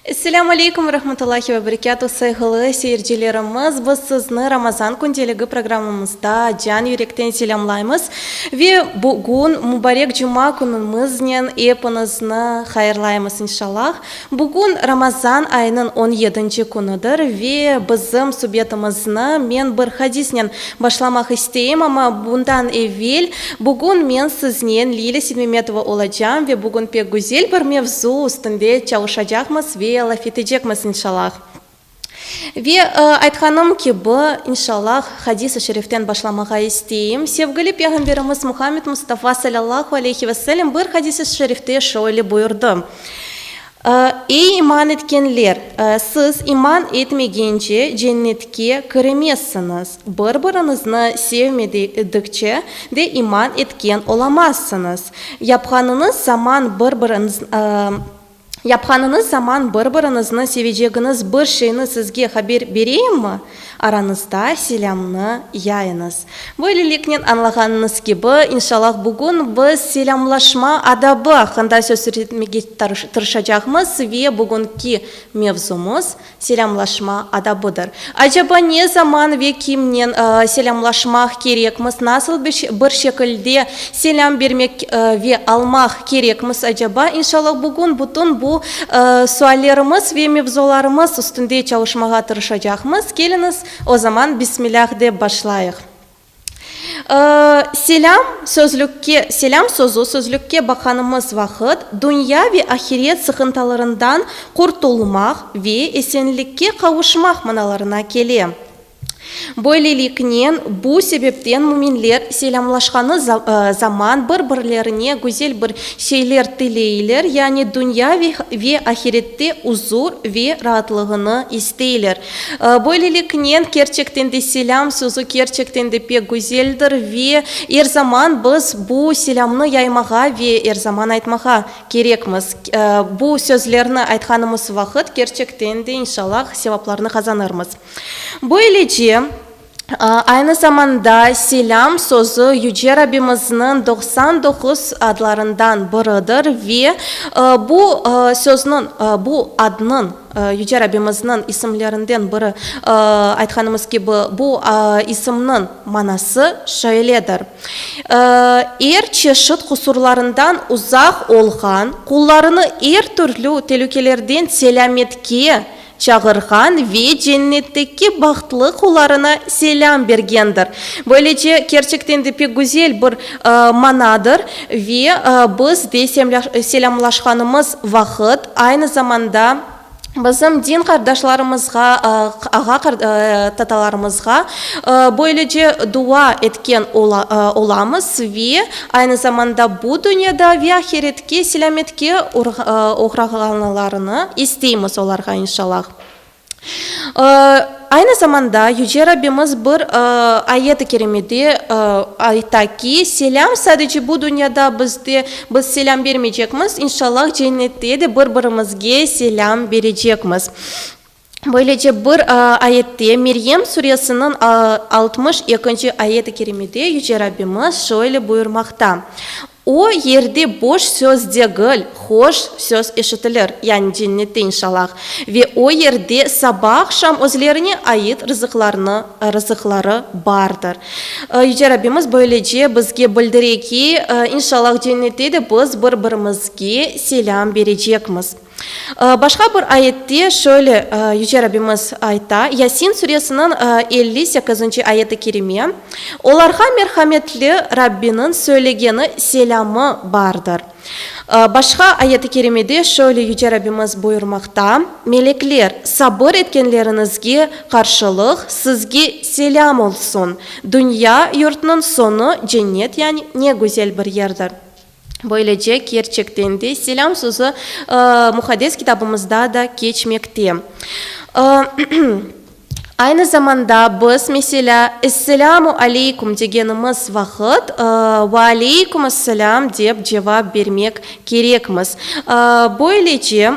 Esselamu aleykum ve rahmetullahi ve berekâtu, sayğılı seyircilerimiz, biz sizni Ramazan kündeligi programımızda can yürekten selâmlaymız ve bugün mübarek cuma künüñiznen epinizni hayırlaymız inşallah. Bugün Ramazan ayınıñ on yedinci künüdir ve bizim subetimizni men bir hadisnen başlamaq isteyim, amma bundan evel bugün men siznen Lilâ Sidmemetova olacam ve bugün pek güzel bir mevzu üstünde çalışacaqmız ve laf etecekmiz, inşalâh. Ve aytqanım kibi, inşallah, hadis-i şeriften başlamağa isteyim. Sevgili Peyğamberimiz Muhammed Mustafa salâllahu aleyhi ve sellem bir hadis-i şerifte şöyle buyurdı, Ey iman etkenler! Siz iman etmegence Cennetke kiremezsiñiz, bir-biriñizni sevmedikçe de iman etken olamazsıñız. Yapqanıñız zaman bir-biriñizni. Yapqanıñız zaman bir-biriñizni sevecegiñiz bir şeyni sizge haber bereyimmi? Aranızda selâmnı yayıñız. Böyleliknen, añlağanıñız kibi, inşallah, bugün biz selâmlaşma adabı aqqında söz yürütmege tırışacağımız ve bugünki mevzumız, Selâmlaşma adabıdır. Acaba ne zaman ve kimnen selâmlaşmaq kerekmiz? Nasıl bir şekilde selâm bermek ve almaq kerekmiz acaba? İnşallah bugün bütün bu suallerimiz ve mevzularımız üstünde çalışmağa tırışacaqmız. Keliñiz, o zaman Bismilâh dep başlayıq. Selâm, sözlükke, Selâm sözü, sözlükke baqanımız vaqıt, dünya ve ahiret sıqıntalarından qurtulmaq ve esenlikke qavuşmaq manalarına kele. Böyleliknen, bu sebepten müminler selâmlaşqanı zaman bir-birlerine güzel bir şeyler tileyler, yani dünya ve ahirette uzur ve raatlığını isteyler. Böyleliknen, kerçekten de selâm sözü kerçekten de pek güzeldir ve er zaman biz bu selâmnı yaymağa ve er zaman aytmağa kerekmiz. Bu sözlerni aytqanımız vaqıt kerçekten de, inşallah, sevaplarnı qazanırmız. Böylece. Aynı zamanda selâm sözü Yüce Rabbimizniñ doqsan doquz adlarından biridir ve bu sözniñ, bu adnıñ, Yüce Rabbimizniñ isimlerinden biri, aytqanımız kibi, bu isimniñ manası şöyledir, Er çeşit qusurlarından uzaq olğan, qullarını er türlü telükelerden selâmetke çağırğan ve cennetteki bahtlı qullarına selâm bergendir. Böylece, kerçekten de pek güzel bir manadır ve biz de selâmlaşqanımız vaqıt, aynı zamanda bizim din qardaşlarımızğa, ağa, tatalarımızğa böylece dua etken olamız ve aynı zamanda bu dünyada ve ahiretke, Ki selâmetke oğrağanlarını isteymiz olarğa inşalâh. Aynı zamanda Yüce Rabbimiz bir ayet-i kerimede ayta ki, selâm sadece bu dünyada bizde, biz selâm bermeycekmiz, inşalâh cennette de bir-birimizge selâm berecekmiz. Böylece bir ayette, Meryem Suresiniñ altmış ekinci ayet-i kerimede Yüce Rabbimiz şöyle buyurmaqta, O yerde boş söz degil, hoş söz eşitilir, yani Cennette inşalâh, ve o yerde saba-aqşam özlerine ait rızıqlarını, rızıqları bardır. Yüce Rabbimiz böylece bizge bildire ki, inşalâh Cennette de biz bir-birimizge selâm berecekmiz. Başqa bir ayette şöyle Yüce Rabbimiz ayta, Yasin Suresiniñ elli sekizinci ayet-i kerime, Olarğa merhametli Rabbiniñ söylegeni selâmı bardır. Başqa ayet-i kerimede şöyle Yüce Rabbimiz buyurmaqta, Melekler, sabır etkenleriñizge qarşılıq sizge selâm olsun, dünya yurtnıñ soñu cennet, yani ne güzel bir yerdir. Böylece, kerçekten de, selâm sözü Muhaddes Kitabımızda da keçmekte. Aynı zamanda biz, meselâ, Esselâmu aleykum degenimiz vaqıt, Ve aleykum esselâm dep cevap bermek kerekmiz. Böylece,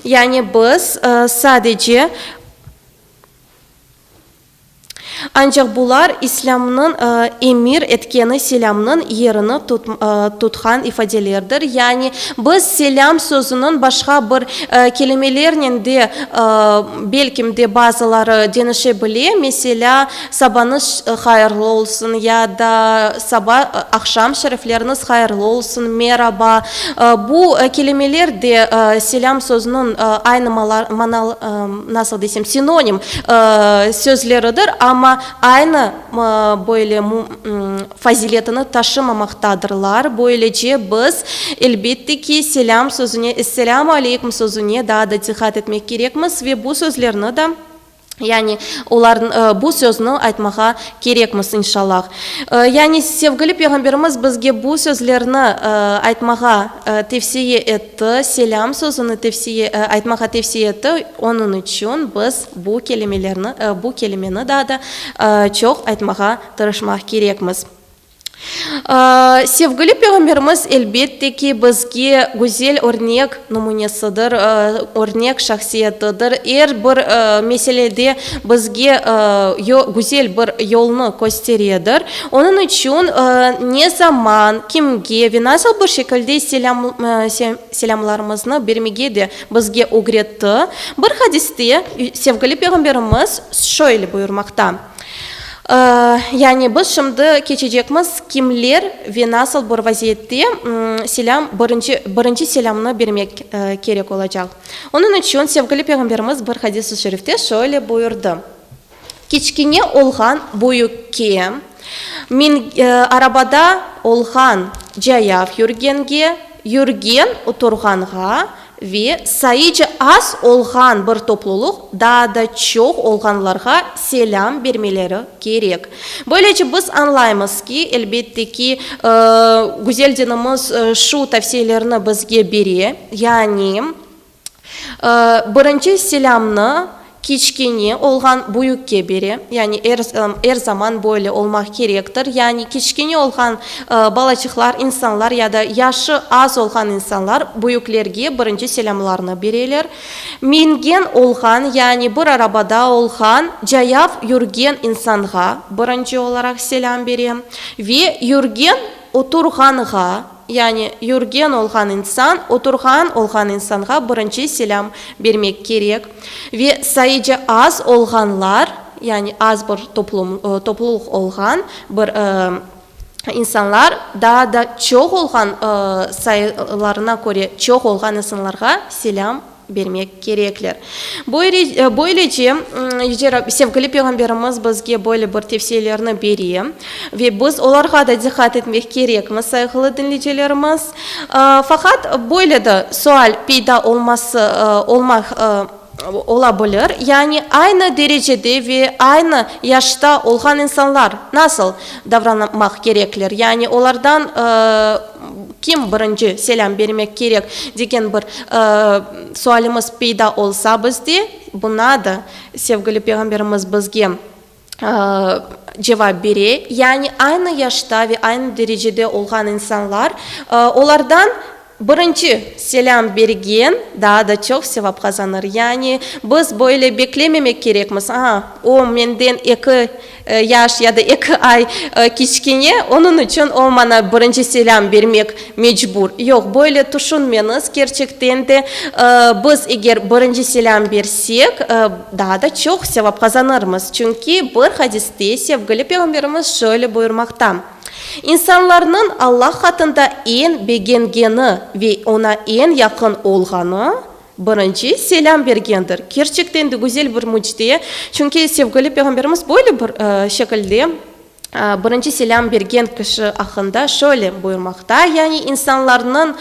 yani biz sadece. Ancaq bular İslâmnıñ emir etkeni selâmnıñ yerini tutqan ifadelerdir, yani biz selâm sözüniñ başqa bir kelimelernen de belkim de bazıları deñişe bile, meselâ, sabanıñ hayırlı olsun ya da saba, aqşam şerefleriniz hayırlı olsun, meraba, bu kelimeler de selâm sözüniñ aynı manalarını, nasıl desem, sinonim sözleridir, amma aynı böyle faziletini taşımamaqtadırlar. Böylece biz, elbette ki, selâm sözüne, esselâmu aleykum sözüne daa da diqqat etmek kerekmiz ve bu sözlerni de, yani bu sözni aytmağa kerekmiz, inşalâh. Yani sevgili Peyğamberimiz bizge bu sözlerni aytmağa tevsiye etti. T, selâm sözüni tevsiye, aytmağa tevsiye etti, onıñ içün biz bu kelimelerni, bu kelimeni daa da çoq aytmağa tırışmaq kerekmiz. Sevgili Peyğamberimiz, elbet de ki, bizge güzel örnek numunesidir, örnek şahsiyetidir. Er bir meselede bizge güzel bir yolnı kösteredir. Onıñ içün ne zaman, kimge ve nasıl bir şekilde selâmlarımıznı bermege de bizge ögretti. Bir hadiste Sevgili Peyğamberimiz şöyle buyurmaqta, Yani biz şimdi keçecekmiz kimler ve nasıl bir vaziyette selâm, birinci selâmnı bermek kerek olacaq. Onıñ içün Sevgili Peyğamberimiz bir hadisi şerifte şöyle buyurdı. Kiçkine olğan büyükke, min, arabada olğan cayav yürgenge, yürgen oturğanğa ve sayıca az olğan bir toplulıq daa da çoq olğanlarğa selâm bermeleri kerek. Böylece biz añlaymız ki, elbette ki, güzel dinimiz şu tavsiyelerni bizge bere, yani, Birinci selâmnı kiçkene olğan büyükke bere, yani er er zaman böyle olmaq kerektir, yani kiçkene olğan balacıqlar, insanlar ya da yaşı az olğan insanlar büyüklerge birinci selâmlarını bereler. Mingen olğan, yani bir arabada olğan cayav yürgen insanğa birinci olaraq selâm bere ve yürgen oturğanğa, Yani, yürgen olğan insan, oturğan olğan insanğa birinci selâm bermek kerek. Ve sayıcı az olğanlar, yani az bir toplum, toplulıq olğan bir insanlar, daa da çoq olğan, sayılarına köre çoq olğan insanlarğa selâm. bermek kerekler. Böylece, sevgili Peyğamberimiz bizge böyle bir tevsiyelerni bere ve biz olarğa da diqqat etmek kerekmiz, sayğılı diñleycilerimiz. Faqat böyle de sual peyda olması ola bilir, yani aynı derecede ve aynı yaşta olğan insanlar nasıl davranmaq kerekler? Yani olardan Kim birinci selâm bermek kerek, degen bir sualimiz peyda olsa bizde, buna da sevgili Peyğamberimiz bizge cevap bere, yani aynı yaşta ve aynı derecede olğan insanlar, olardan birinci selâm bergen daa da çoq sevap qazanır. Yani biz böyle beklememek kerekmiz, aa, o menden eki Yaş ya da eki ay kiçkene, onıñ içün o maña birinci selâm bermek mecbur. Yoq, böyle tüşünmeñiz, kerçekten de, biz eger birinci selâm bersek, daa da çoq sevap qazanırmız. Çünki bir hadiste Sevgili Peyğamberimiz şöyle buyurmaqta, İnsanlarnıñ Allah qatında eñ begengeni ve oña eñ yaqın olğanı, Birinci selâm bergendir. Kerçekten de güzel bir mücde. Çünki sevgili Peyğamberimiz böyle bir şekilde birinci selâm bergen kişi aqqında şöyle buyurmaqta, yani insanlarnıñ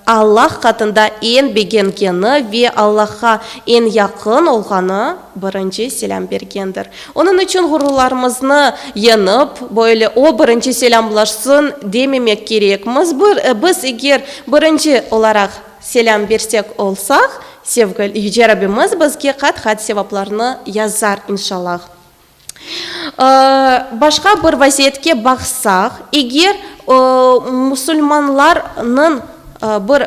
Allah qatında eñ begengeni ve Allahqa eñ yaqın olğanı birinci selâm bergendir. Onıñ içün ğururlarımıznı yeñip, böyle o birinci selâmlaşsın dememek kerekmiz. Biz eger birinci olaraq, Selâm bersek olsaq, sevgil Yüce Rabimiz bizge qat-qat sevaplarnı yazar, inşallah. Başqa bir vaziyetke baqsaq, eger musulmanlarnıñ bir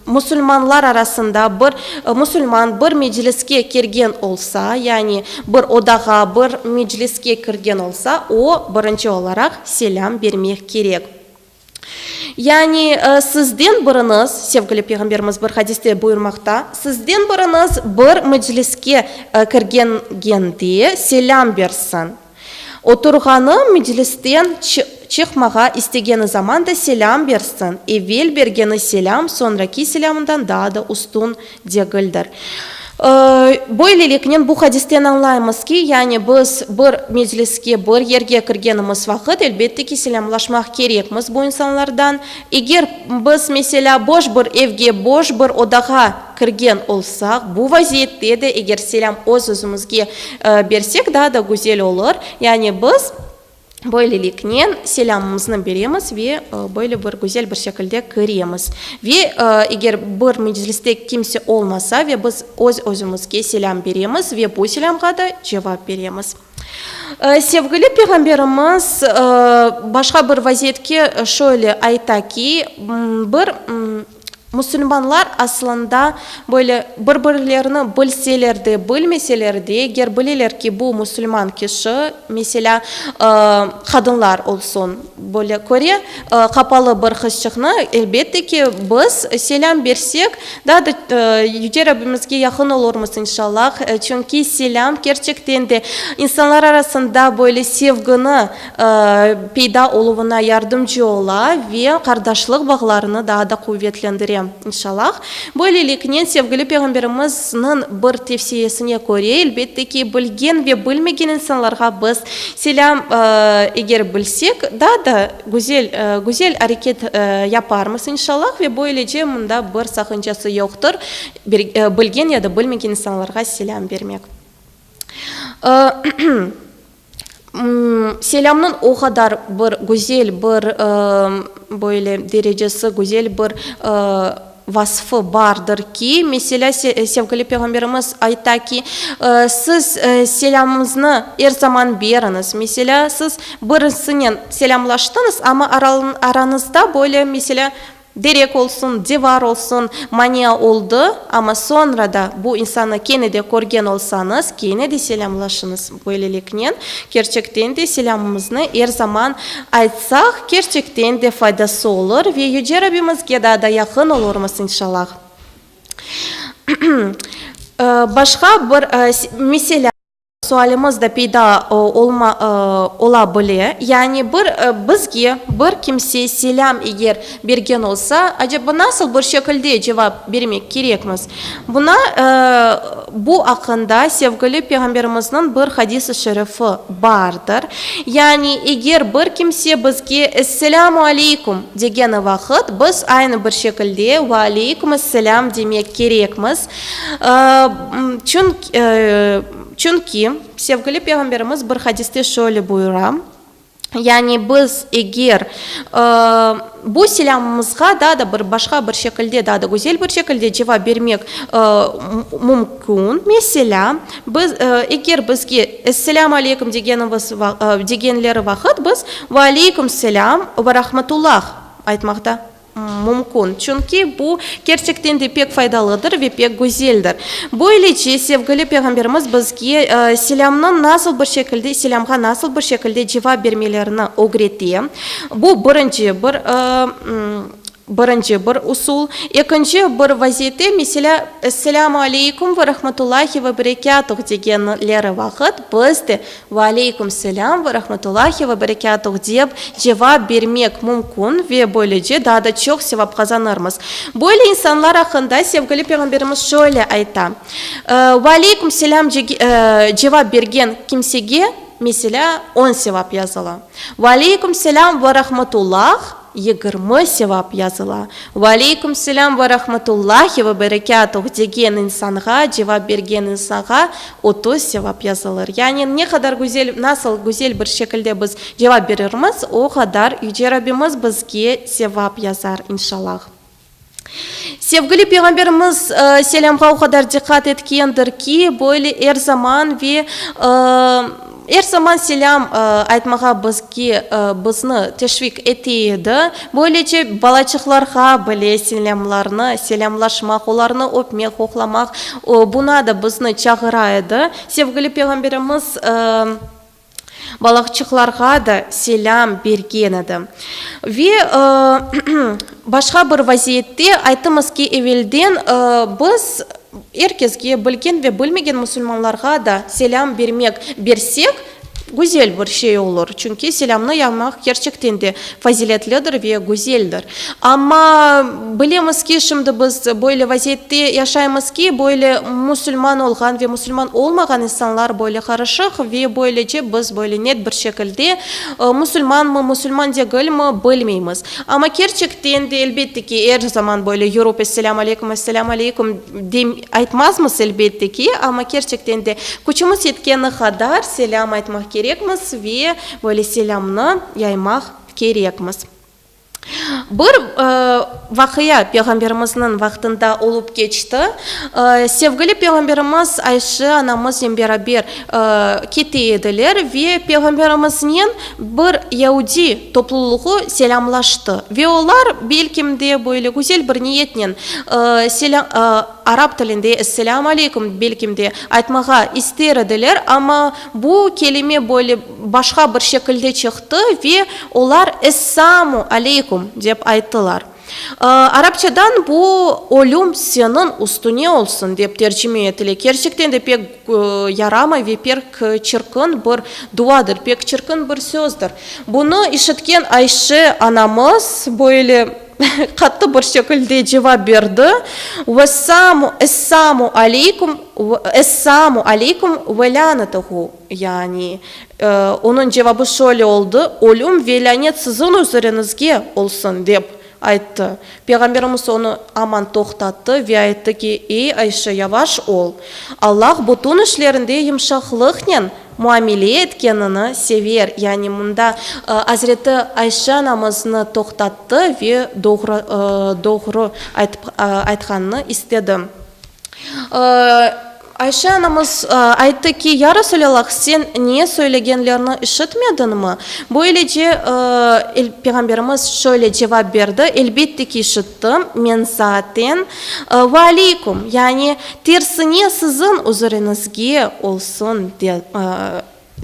musulmanlar arasında bir musulman bir mecliske kirgen olsa, yani bir odağa, bir mecliske kirgen olsa, o, birinci olaraq selâm bermek kerek. Yani, sizden biriñiz, sevgili Peyğamberimiz bir hadiste buyurmaqta, sizden biriñiz bir mecliske kirgende selâm bersin. Oturğanı meclisten çıqmağa istegeni zaman da selâm bersin, evel bergeni selâm soñraki selâmından daa da üstün Degildir. Böyleliknen, bu hadisten añlaymız ki, yani biz bir mecliske, bir yerge kirgenimiz vaqıt, elbette ki, selâmlaşmaq kerekmiz bu insanlardan. Eger biz, meselâ, boş bir evge, boş bir odağa kirgen olsaq, bu vaziyette de eger selâm öz-özümizge bersek, daa da güzel olur. Yani biz. Böyleliknen selâmımıznı beremiz ve böyle bir güzel bir şekilde kiremiz. Ve eger bir mecliste kimse olmasa ve biz öz-özümizge selâm beremiz ve bu selâmğa da cevap beremiz. Sevgili Peyğamberimiz başqa bir vaziyetke şöyle ayta ki, bir Musulmanlar aslında böyle bir-birlerini bilseler de, bilmeseler de, eger bileler ki, bu musulman kişi, meselâ, qadınlar olsun, böyle köre, qapalı bir qızçıqnı, elbette ki, biz selâm bersek, daa da Yüce Rabbimizge yaqın olurmız, inşallah. Çünki selâm kerçekten de insanlar arasında böyle sevgini, peyda oluvına yardımcı ola ve qardaşlıq bağlarını daa da quvetlendire, inşalâh. Böyleliknen, sevgili Peyğamberimizniñ bir tevsiyesine köre, elbette ki, bilgen ve bilmegen insanlarğa biz selâm, eger bilsek, daa da güzel, güzel areket yaparmız, inşalâh, ve böylece mında bir saqıncası yoqtır, bilgen ya da bilmegen insanlarğa selâm bermek. Selâmnıñ o qadar bir güzel, bir böyle derecesi, güzel bir vasfı bardır ki, meselâ, sevgili Peyğamberimiz ayta ki, siz selâmıñıznı er zaman beriñiz. Meselâ, siz birisinen selâmlaştıñız, amma aranızda böyle, meselâ, Derek olsun, devar olsun, mania oldı, amma soñra da bu insannı kene de körgen olsañız, kene de selâmlaşıñız. Böyleliknen, kerçekten de selâmımıznı er zaman aytsaq, kerçekten de faydası olur ve Yüce Rabimizge daa da yaqın olurmız, inşallah. Başqa bir meselâ. Sualimiz de peyda olma ola bile, yani bir bizge bir kimse selâm eger bergen olsa, aceba nasıl bir şekilde cevap bermek kerekmiz? Buna bu aqqında sevgili Peyğamberimizniñ bir hadis-i şerifi bardır, yani eger bir kimse bizge Esselâmu aleykum degeni vaqıt biz aynı bir şekilde Ve aleykum esselâm demek kerekmiz, Çünki Sevgili Peyğamberimiz bir hadiste şöyle buyura, yani biz eger bu selâmımızğa daa da bir başqa bir şekilde, daa da güzel bir şekilde cevap bermek mümkün. Meselâ, biz, eger bizge Esselâmu aleykum degenimiz, degenleri vaqıt biz Ve aleykum selâm ve rahmetullah aytmaqta. Mümkün, çünki bu, kerçekten de, pek faydalıdır ve pek güzeldir. Böylece, sevgili Peyğamberimiz bizge selâmnıñ nasıl bir şekilde, selâmğa nasıl bir şekilde cevap bermelerini ögrete. Bu, birinci bir, birinci bir usul. Ekinci bir vaziyette, meselâ, Esselâmu aleykum ve rahmetullâhi ve berekâtuh degenleri vaqıt biz de, Ve aleyküm selâm ve rahmetullahi ve berekâtuh dep cevap bermek mümkün ve böylece daa da çoq sevap qazanırmız. Böyle insanlar aqqında Sevgili Peyğamberimiz şöyle ayta, Ve aleyküm selâm cevap bergen kimsege, meselâ, on sevap yazıla. Ve aleyküm selâm ve rahmetullah. Yigirmi sevap yazıla. Ve aleyküm selâm ve rahmetullâhi ve berekâtuh degen insanğa, cevap bergen insanğa otuz sevap yazılır. Yani ne qadar güzel, nasıl güzel bir şekilde biz cevap berirmiz, o qadar Yüce Rabbimiz bizge sevap yazar, inşalâh. Sevgili Peyğamberimiz, selâmğa o qadar diqqat etkendir ki, böyle er zaman ve er zaman selâm aytmağa bizge, bizni teşviq ete edi. Böylece, balaçıqlarğa bile selâmlarnı, selâmlaşmaq, olarnı öpmek, qoqlamaq, buna da bizni çağıra edi. Sevgili Peyğamberimiz, Balaqçıqlarğa da selâm bergen edi. Ve başqa bir vaziyette, aytımız ki, evelden biz er kesge, bilgen ve bilmegen musulmanlarğa da selâm bermek, bersek, güzel bir şey olur. Çünki selâmnı yaymaq kerçekten de faziletlidir ve güzeldir. Amma, bilemiz ki, şimdi biz böyle vaziyette yaşaymız ki, böyle musulman olğan ve musulman olmağan insanlar böyle qarışıq ve böylece biz böyle net bir şekilde musulmanmı, musulman degilmi, bilmeymiz. Amma kerçekten de, elbette ki, er zaman böyle yürüp esselâm aleykum, esselâm aleykum dem, aytmazmız, elbette ki, amma kerçekten de küçümiz yetkeni qadar selâm aytmaq kerekmiz ve, Böyle selâmnı yaymaq kerekmiz. Bir vaqia Peyğamberimizniñ vaqtında olıp keçti. Sevgili Peyğamberimiz Ayşe anamıznen beraber kete ediler ve Peyğamberimiznen bir yaudiy topluluğı selâmlaştı. Ve olar belkim de böyle güzel bir niyetnen Arap tilinde Esselâm aleyküm, belkim de, aytmağa ister ediler, amma bu kelime böyle başqa bir şekilde çıqtı ve olar Essâmu aleyküm dep ayttılar. Arapçadan bu Ölüm seniñ üstüne olsun dep tercime etile. Kerçekten de pek yaramay ve pek çirkin bir duadır, pek çirkin bir sözdir. Bunı işitken Ayşe anamız böyle. Qattı bir şekilde cevap berdi, Vessamu, Essamu aleykum, Essamu aleykum ve lânetuhu, yani, onıñ cevabı şöyle oldı, Ölüm ve lânet siziñ üzeriñizge olsun, dep ayttı. Peyğamberimiz onı aman toqtattı ve ayttı ki, Ey, Ayşe, yavaş ol. Allah bütün işlerinde yımşaqlıqnen Muamele etkenini sever, yani mında Azreti Ayşe anamıznı toqtattı ve doğru, doğru aytıp, aytqanını istedi. Ayşe anamız ayttı ki, Ya Resulallah, sen ne söylegenlerini işitmedinmi? Böylece Peyğamberimiz şöyle cevap berdi, Elbette ki, işittim. Çıqtım men zaaten. Ve aleyküm, yani tersine siziñ uzuriñizge olsun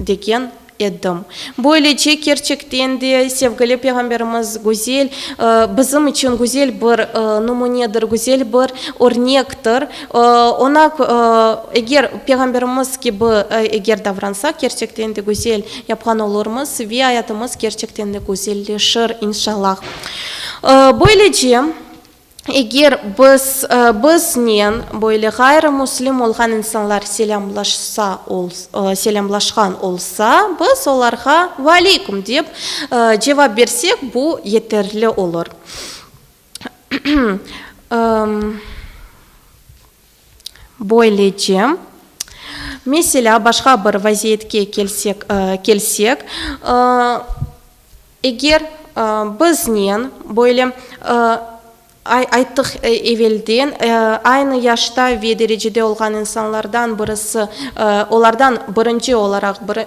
degen edim. Böylece kerçekten de sevgili Peyğamberimiz güzel, bizim içün güzel bir numunedir, güzel bir örnektir. Oña, eger Peyğamberimiz kibi eger davransaq, kerçekten de güzel yapqan olurmız ve ayatımız kerçekten de güzelleşir, inşallah. Böylece, eger biz, biznen böyle ğayrımüslim olğan insanlar selâmlaşsa ol, selâmlaşqan olsa, biz olarğa Valeyküm dep cevap bersek, bu yeterli olur. Böylece, meselâ, başqa bir vaziyetke kelsek, kelsek, eger biznen böyle ay, ayttıq evelden, aynı yaşta ve derecede olğan insanlardan birisi, olardan birinci olaraq bir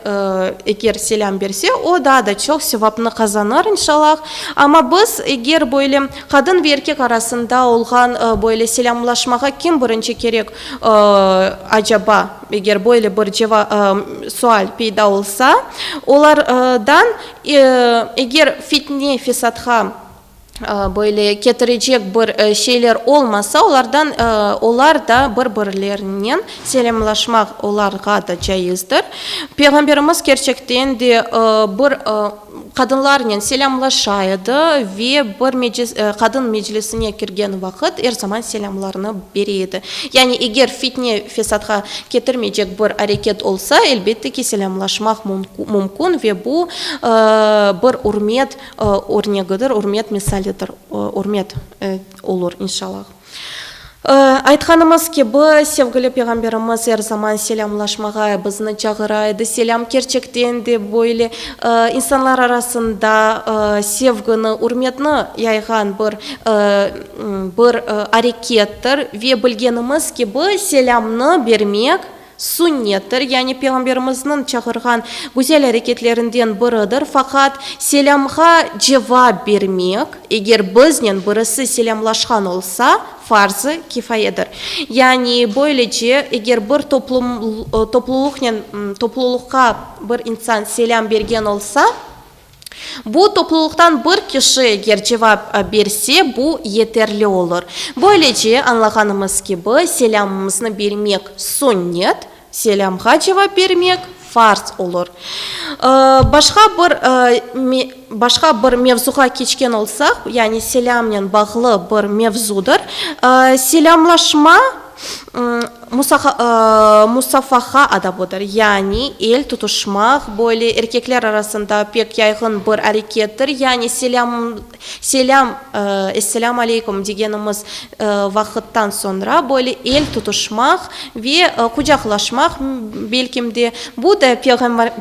eger selâm berse, o daa da çoq sevapnı qazanır, inşalâh. Amma biz eger böyle, Qadın ve erkek arasında olğan böyle selâmlaşmağa kim birinci kerek acaba? Eger böyle bir sual peyda olsa, olardan eger fitne, fesatqa böyle ketirecek bir şeyler olmasa, olardan olar da bir birlerinen selâmlaşmaq olarğa da caizdir. Peyğamberimiz kerçekten de bir Qadınlarnen selâmlaşa edi ve bir qadın meclisine kirgen vaqıt er zaman selâmlarını bere edi. Yani eger fitne-fesadğa ketirmeycek bir areket olsa, elbette ki, selâmlaşmaq mümkün ve bu, bir ürmet örnegidir, ürmet misalidir, ürmet olur, inşalâh. Aytqanımız kibi, sevgili Peyğamberimiz er zaman selâmlaşmağa bizni çağıra edi. Selâm, kerçekten de, böyle insanlar arasında sevgini, ürmetni yayğan bir bir arekettir. Ve bilgenimiz kibi, selâmnı bermek, Sünnettir, yani Peyğamberimizniñ çağırğan güzel areketlerinden biridir. Faqat selâmğa cevap bermek, eger biznen birisi selâmlaşqan olsa, farz-ı kifayedir. Yani böylece, eger bir toplum toplulıqnen, topluluqqa bir insan selâm bergen olsa, Bu toplulıqtan bir kişi eger cevap berse, bu yeterli olur. Böylece, añlağanımız kibi, selâmımıznı bermek sünnet, selâmğa cevap bermek farz olur. Başqa bir başqa bir mevzuğa keçken olsaq, yani selâmnen bağlı bir mevzudır, selâmlaşma, Musafaha adabı dır, yani el tutuşmaq, böyle erkekler arasında pek yayğın bir arekettir, yani selâm, esselâm aleykum, degenimiz vaqıttan soñra böyle el tutuşmaq ve qucaqlaşmaq, belkim de, bu da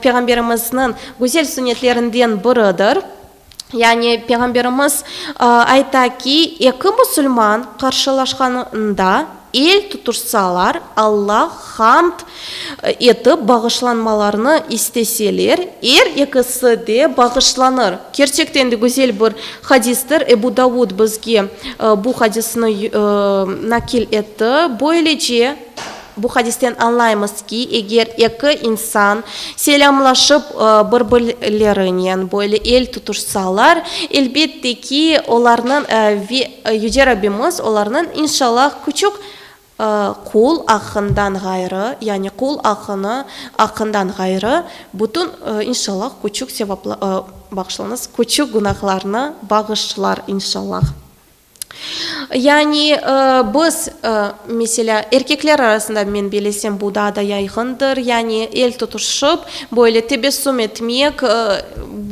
Peyğamberimizniñ güzel sünnetlerinden biridir. Yani Peyğamberimiz ayta ki, eki musulman qarşılaşqanında el tutuşsalar, Alla hamd etip bağışlanmalarını isteseler, er ekisi de bağışlanır. Kerçekten de güzel bir hadistir. Ebu Davud bizge bu hadisni nakil etti. Böylece. Bu hadisten añlaymız ki, eger eki insan selâmlaşıp, bir-birlerinen böyle el tutuşsalar, elbette ki, olarnıñ, ve Yüce Rabbimiz olarnıñ, inşallah, küçük qul aqqından ğayrı, yani qul aqqını, aqqından ğayrı, bütün, inşallah, küçük sevapla, bağışlayıñız, küçük günahlarını bağışlar, inşallah. Yani, biz, meselâ, erkekler arasında, men bilesem, bu daa da yayğındır, yani, el tutuşıp, böyle tebessüm etmek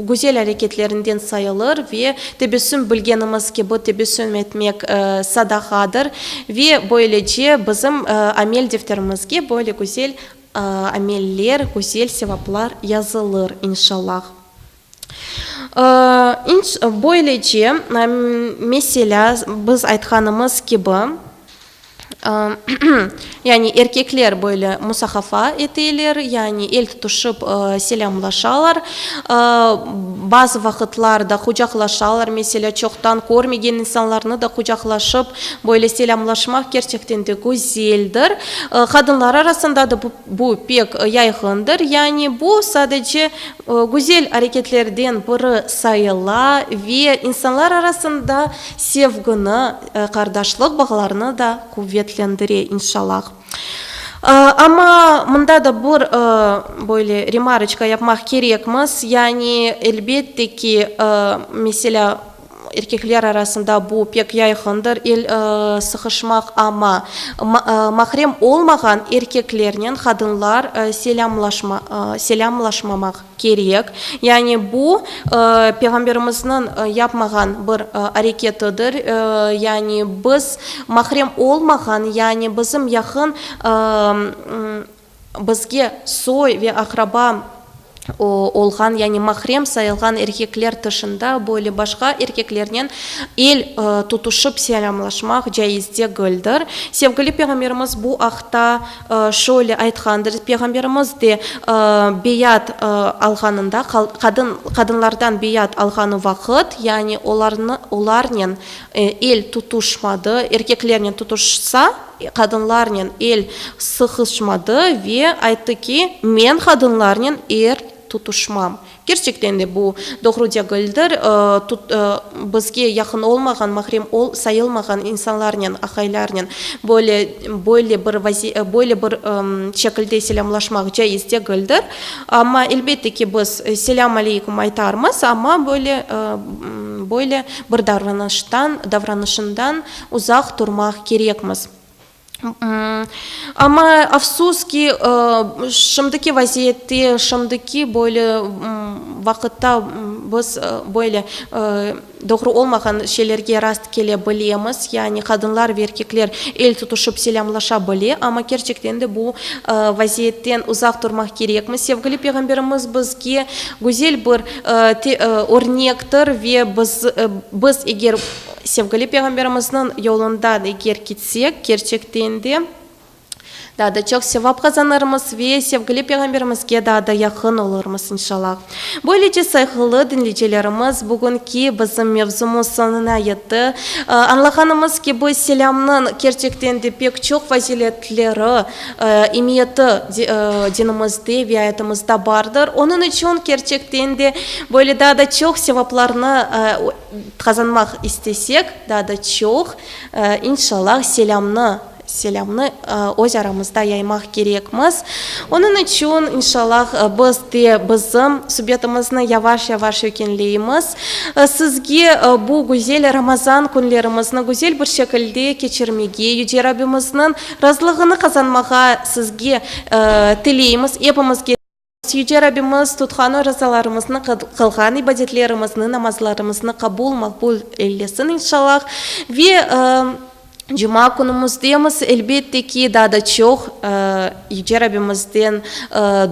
güzel areketlerinden sayılır ve tebessüm, bilgenimiz kibi, tebessüm etmek sadağadır ve böylece bizim amel defterimizge böyle güzel ameller, güzel sevaplar yazılır, inşallah. Böylece, meselâ, biz aytqanımız kibi, yani erkekler böyle musahafa eteler, yani el tutuşıp selâmlaşalar, bazı vaqıtlarda qucaqlaşalar, meselâ, çoqtan körmegen insanlarnı da qucaqlaşıp böyle selâmlaşmaq kerçekten de güzeldir. Qadınlar arasında da bu pek yayğındır, yani bu sadece güzel areketlerden biri sayıla ve insanlar arasında sevgini, qardaşlıq bağlarını da quvetlendire, inşalâh. Amma mında da bir böyle remarıçka yapmaq kerekmiz, yani elbette ki, meselâ, Erkekler arasında bu pek yayğındır, el sıqışmaq, amma mahrem olmağan erkeklernen qadınlar selâmlaşmamaq kerek. Yani bu, Peyğamberimizniñ yapmağan bir areketidir. Yani biz mahrem olmağan, yani bizim yaqın Bizge soy ve aqraba olğan, yani mahrem sayılğan erkekler tışında böyle başqa erkeklernen el tutuşıp selâmlaşmaq caiz degildir. Sevgili Peyğamberimiz bu aqta şöyle aytqandır, Peyğamberimiz de beyat alğanında, qadın, qadınlardan beyat alğanı vaqıt, yani olarnı, olarnen el tutuşmadı, erkeklernen tutuşsa, Qadınlarnen el sıqışmadı ve ayttı ki, men qadınlarnen el tutuşmam. Kerçekten de bu doğru degildir. Bizge yaqın olmağan, mahrem sayılmağan insanlarnen, aqaylarnen böyle böyle bir böyle bir şekilde selâmlaşmaq caiz degildir. Amma elbette ki, biz selâm aleykum aytarmız, amma böyle böyle bir davranıştan davranışından Uzaq turmaq kerekmiz. Amma, afsus ki, şimdiki vaziyette, şimdiki böyle vaqıtta biz böyle doğru olmağan şeylerge rast kele bilemiz, yani qadınlar ve erkekler el tutuşıp selâmlaşa bile, amma kerçekten de bu vaziyetten uzaq turmaq kerekmiz. Sevgili Peyğamberimiz bizge güzel bir örnektir ve biz, biz eger Sevgili Peyğamberimizniñ yolundan eger kitsek, kerçekten de, daa da çoq sevap qazanırmız ve sevgili Peyğamberimizge daa da yaqın olurmız, inşalâh. Böylece, sayğılı diñleycilerimiz, bugünki bizim mevzumız soñuna yetti. Añlağanımız kibi, selâmnıñ kerçekten de pek çoq faziletleri, emiyeti dinimizde ve ayatımızda bardır. Onıñ içün kerçekten de, böyle daa da çoq sevaplarnı Qazanmaq istesek, daa da çoq, inşallah, selâmnı, selâmnı öz aramızda yaymaq kerekmiz. Onıñ içün, inşallah, biz de bizim subetimizni yavaş-yavaş ögünleymiz. Sizge bu güzel Ramazan künlerimizni güzel bir şekilde keçirmege, Yüce Rabbimizniñ razılığını qazanmağa sizge tileymiz, epimizge. Yüce Rabbimiz tutqan orazalarımıznı, qılğan ibadetlerimizni, namazlarımıznı qabul, maqbul eylesin, inşallah. Ve cuma künümizdemiz, elbette ki, daa da çoq Yüce Rabbimizden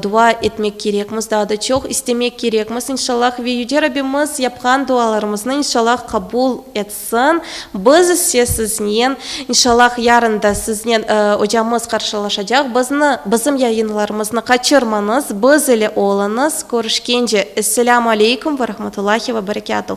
dua etmek kerekmiz, daa da çoq istemek kerekmiz, inşallah. Ve Yüce Rabbimiz yapqan dualarımıznı, inşallah, qabul etsin. Soñ biz ise siznen, inşallah, yarın da siznen ocamız qarşılaşacaq. Bizni, bizim yayınlarımıznı qaçırmañız, biz ile oluñız. Körüşkence. Esselâmu aleykum ve rahmetullahi ve berekâtuh.